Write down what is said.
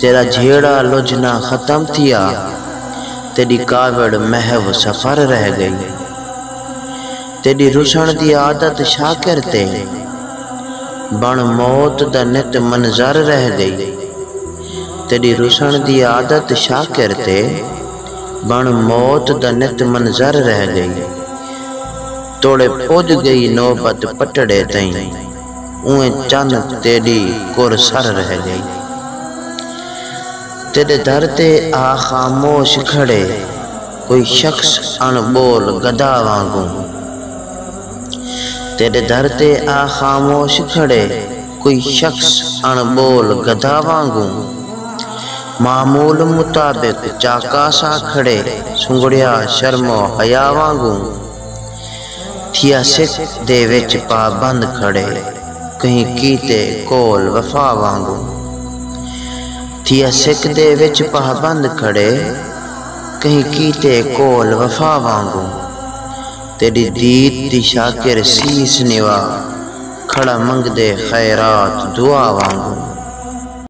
تیݙا جھیڑا لجھنا ختم تھیا تیݙی کاوڑ محو سفر رہ ڳئی تیݙی رسݨ دی عادت شاکر تے بݨ موت دا نت منظر رہ ڳئی تیݙی رسݨ دی عادت شاکر تے بݨ موت دا نت منظر رہ ڳئی توڑے پڄ ڳئی نوبت پٹڑے تئیں۔ اونویں چن تیݙی کر سر رہ ڳئی۔ تیݙے در تے آ خاموش کھڑے کوئی شخص اݨ ٻول گدا وانگوں۔ تیݙے در تے آ خاموش کھڑے کوئی شخص اݨ ٻول گدا وانگوں۔ معمول مطابق چاکاں ساں کھڑے سنگڑیا شرم و حیا وانگوں۔ تھیا سکھ دے وچ پابند کھڑے کہیں کیتے قول وفا وانگوں تھیا سکھ دے وچ پابند کھڑے کہیں کیتے قول وفا وانگوں تیڈی دید دی شاکر سیس نوا کھڑا منگدے خیرات دعا وانگوں۔